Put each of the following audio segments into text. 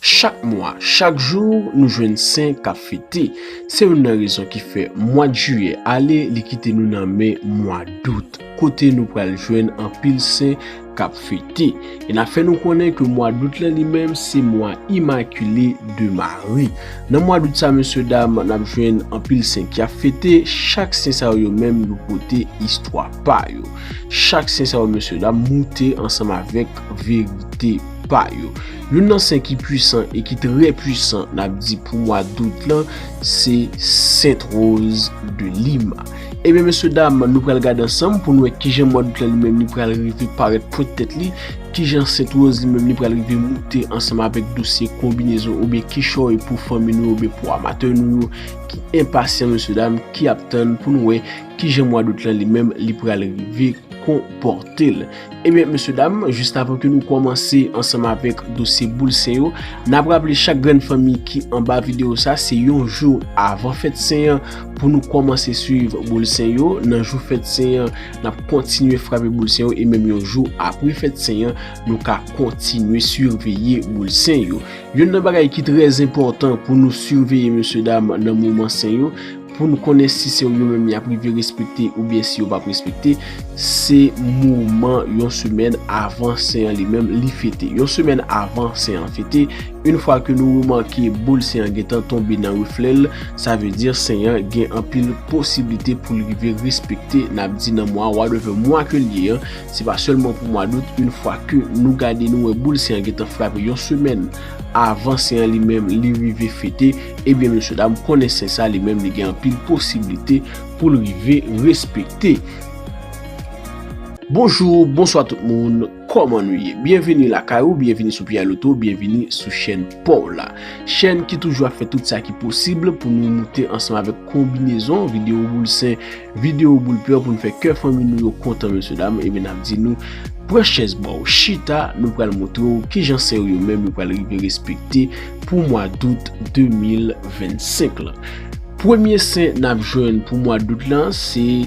Chak mwa, chak jou, nou jwenn sen k ap fete. Se youn nan rezon ki fè mwad jiyè ale li kite nou nan men mwa dout kote nou pral jwenn anpil sen k ap fete. E n ap fè nou konnen ke mwa dout la li menm se mwa imakile de Mari. Nan mwa dout sa mesye dam n ap jwenn anpil sen ki ap fete. Chak sen sa yo yo menm yo pote istwa pa yo. Chak sen sa yo mesye dam moute ansanm avèk verite. pa yo. Youn nan sen ki pwisan e ki trè pwisan n ap di pou mwa dout lan se Sent Woz de Lima. Ebyen mesye dam nou pral gade ansanm pou n wè kijan mwa dout lan li menm li pral rive parèt pwent tèt li, kijan Sent Woz li menm li pral rive moute ansanm avèk dosye konbinezon oubyen kichòy pou fanmi nou yo oubyen pou amatè nou yo ki enpasyan mesye dam ki ap tann pou n wè kijan mwa dout lan li menm li pral rive konpòte l. Ebyen mesye dam, jist avan ke nou kòmanse ansanm avèk dosye boul sen yo, n ap raple chak grenn fanmi ki anba videyo sa se yon jou avan fèt sen an pou nou kòmanse swiv boul sen yo, nan jou fèt sen an n ap kontinye frape boul sen yo e menm yon jou apre fèt sen an nou ka kontinye siveye boul sen yo. Youn nan bagay ki trèzenpòtan pou nou siveye mesye dam nan moman sen yo, Pou nou konnen si se yo menm y ap rive respekte oubyen si yo p ap respekte, se moman yon semèn avan sen an li menm li fete. Yon semèn avan sen an fete, yon fwa ke nou remake boul sen an gentan tonbe nan reflè l, sa vle di sen an gen anpil posiblite pou l rive respekte n ap di nan mwa whatever mwa ke l ye an, se pa sèlman pou mwa dout, yon fwa ke nou gade nou wè boul sen an gentan frape yon semèn. Avan sen an li menm li rive fete, ebyen mesye dam konnen sen sa li menm li gen anpil posiblite pou l rive respekte. Bonjou, bonswa tout moun, kòman nou ye? Byenvini lakay ou, byenvini sou Pierre Loto, byenvini sou chèn pa w la. Chèn ki toujou ap fè tout sa ki posib pou nou moute ansanm avèk konbinezon videyo boul sen. Video boul peur pou nou fè kè fanmi nou yo kontan mesye dam ebyen nap di nou pran chèz baw chita nou pral montre w kijan sè yo yo menm yo pral rive respekte pou mwa dout 2025 lan premye sen nap jwenn pou mwa dout lan se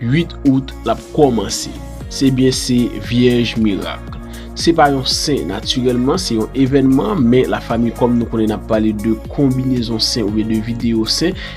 8 out lap kòmanse se byen se vyèj mirak se pa yon sen natirèlman se yon evènman men la fami kòm nou konnen nap pale de konbinezon sen oubyen de video sen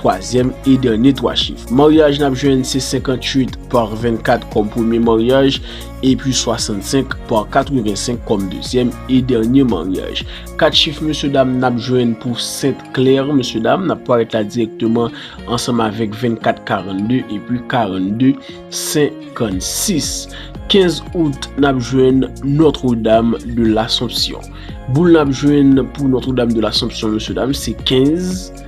Twazyèm e dènye 3 chif maryaj n ap jwenn se 58 par 24 kòm premye maryaj epi 65 par 85 kòm dezyèm e dènye maryaj. Kat chif mesye dam n ap jwenn pou Sent Klè mesye dam n ap parèt la dirèkteman ansanm avèk 24 42 epi 42 56. Kenz out n ap jwenn Notre Dame de l'Assomption. Boul n ap jwenn pou Notre Dame de l'Assomption mesye dam se 15.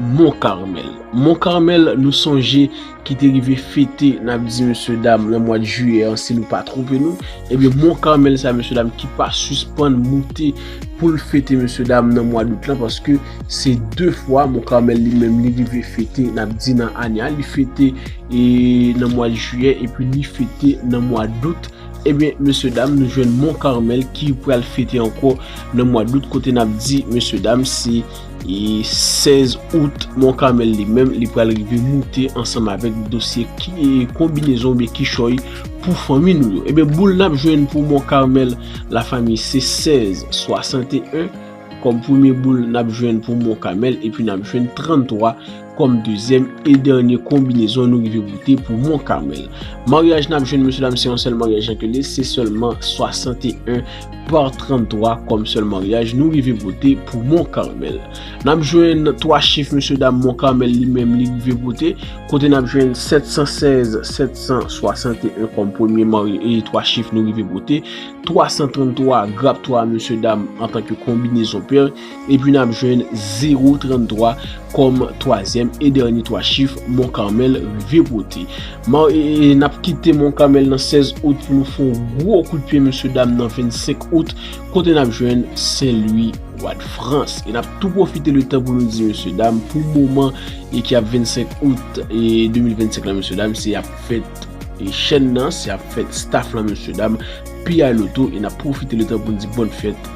Mont Carmel. Mont Carmel nou sonje ki te rive fete nap di mesye dam nan mwad jiyè an si nou pa twonpe nou, ebyen Mont Carmel sa mesye dam ki pa sispann moute poul fete mesye dam nan mwa dout lan paske se 2 fwa Mont Carmel li menm li rive fete nap di nan ane a li fete e nan mwad jiyè epi li fete nan mwa dout ebyen mesye dam nou jwenn Mont Carmel ki pral fete ankò nan mwa dout kote nap di mesye dam se E 16 out Mont Carmel li menm li pral rive moute ansanm avèk dosye konbinezon oubyen kichòy pou fanmi nou yo. Ebyen boule n ap jwenn pou Mont Carmel la fanmi se 16, 61 kòm premye boule n ap jwenn pou Mont Carmel epi n ap jwenn 33. kòm dezyèm e dènye konbinezon nou rive pote pou Mont Carmel. Maryaj nap jwenn mesye dam se yon sèl maryaj nan Keles, se sèlman 61 par 33 kòm sèl maryaj nou rive pote pou Mont Carmel. Nap jwenn 3 chif mesye dam Mont Carmel li menm li rive pote, kote nap jwenn 716, 761 kòm premye marye e 3 chif nou rive pote, 333 grap 3 mesye dam antanke konbinezon pèr, Epi nap jwenn 0, 33 kòm twazyèm e dènye twa chif Mont Carmel rive pote. Maw e e nap kite Mont Carmel nan 16 out pou nou fè yon gwo kout pye mesye dam nan 25 out kote nap jwenn Sen Lwi Wad Frans. E nap tou pwofite letan pou nou di mesye dam pou moman e ki ap 25 out e 2025 la mesye dam se ap fèt e chèn nan se ap fèt staf lan mesye dam PI Loto e nap pwofite letan pou nou di bòn fèt.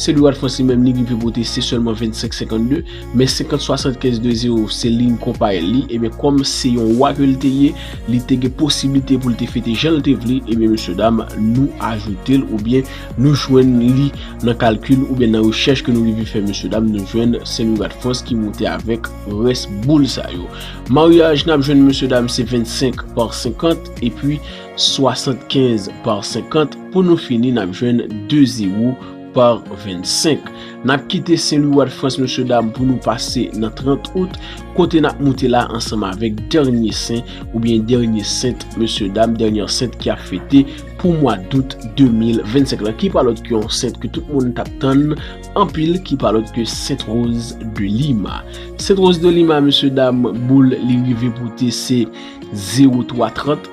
Se li wad franse menm li rive pote se selman 25 52 men 50 75 de 0 se ligne konpa el li ebyen kom se yon wa ke li te ye li te gen posiblite pou li te fete jan li te vle ebyen mesye dam nou ajoute l oubyen nou jwenn li nan kalkil oubyen nan rechèch ke nou rive fè mesye dam nou jwenn se li wad franse ki moute avek res boul sa yo maryaj nap jwenn mesye dam se 25 par 50 epi 75 par 50 pou nou fini nap jwenn 2 zero par 25 nap kite Sen Lwi wa Dfrans mesye dam pou nou pase nan 30 out kote nap moute la ansanm avèk dènye sen oubyen dènye sent mesye dam dènyè sent ki ap fete pou mwa dout 2025 la ki pa lòt ke yon sent ke tout moun tap tann anpil ki pa lòt ke sent Roz de Lima sent Roz de Lima mesye dam boul li rive pote se zero 3 trant.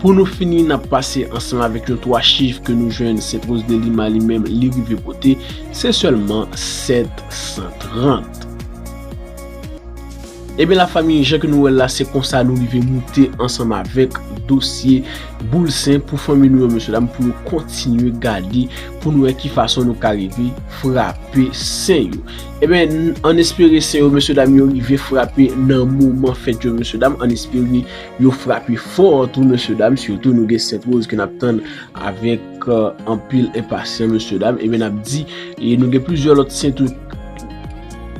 Pou nou fini nap pase ansanm avèk yon 3 chif ke nou jwenn Saint Rose de Lima li menm li rive pote, se sèlman 730. Ebyen la fanmi jan ke nou wèl la se konsa nou rive moute ansanm avèk dosye boul sen pou fanmi nou yo mesye dam pou nou kontinye gade pou nou wè ki fason nou ka rive frape sen yo. Ebyen an espere sen yo mesye dam yo rive frape nan moman fèt yo mesye dam an espere. Yo frape fò tou mesye dam sitou nou gen Sent Woz ke nap tann avèk anpil enpasyan mesye dam ebyen nap di e nou gen plizyè lòt Sen tou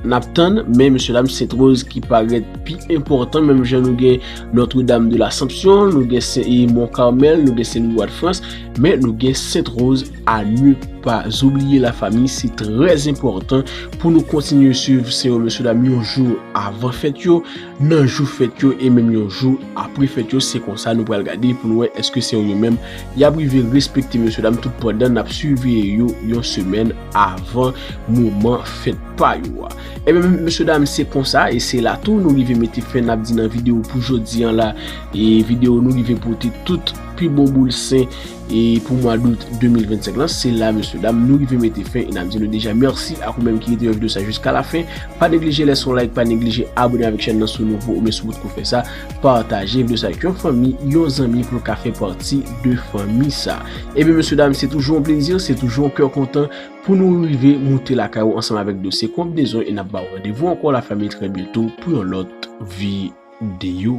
nap tann men mesye dam Sent Woz ki parèt pi enpòtan menm jan nou gen Notre Dame de l'Assomption nou gen Sen e Mont Carmel nou gen Sen Louis Roi de France men nou gen Sent Woz a ne pa oubliye la fami se trè enpòtan pou nou kontinye swiv se yo mesye dam yon jou avan fèt yo. nan jou fèt yo e menm yon jou apre fèt yo se konsa nou pral gade pou nou wè eske se yo menm yap rive respekte mesye dam tout pandan nap siveye yo yon semèn avan moman fèt pa yo a ebyen mesye dam se konsa e se la tou nou rive mete fen nap di nan video pou jodi an la e video nou rive pote tout pi bon boul sen E pou mwa dout 2025 lan, se la mesye dam nou rive mete fen e nap di nou deja merci ak ou menm ki rete yon video sa jiska la fen, pa neglije lèse yon like, pa neglije abone avèk chèn nan si w nouvo oubyen si w potko fè sa, pataje video sa ak yon fanmi, yon zanmi pou l ka fè pati de fanmi sa. Ebyen mesye dam se toujou yon plezi, se toujou yon kè kontan pou nou rive moute lakay ou ansanm avèk dosye kon w bezwen e nap ba w randevou ankò la fanmi trè byento pou yon lòt video.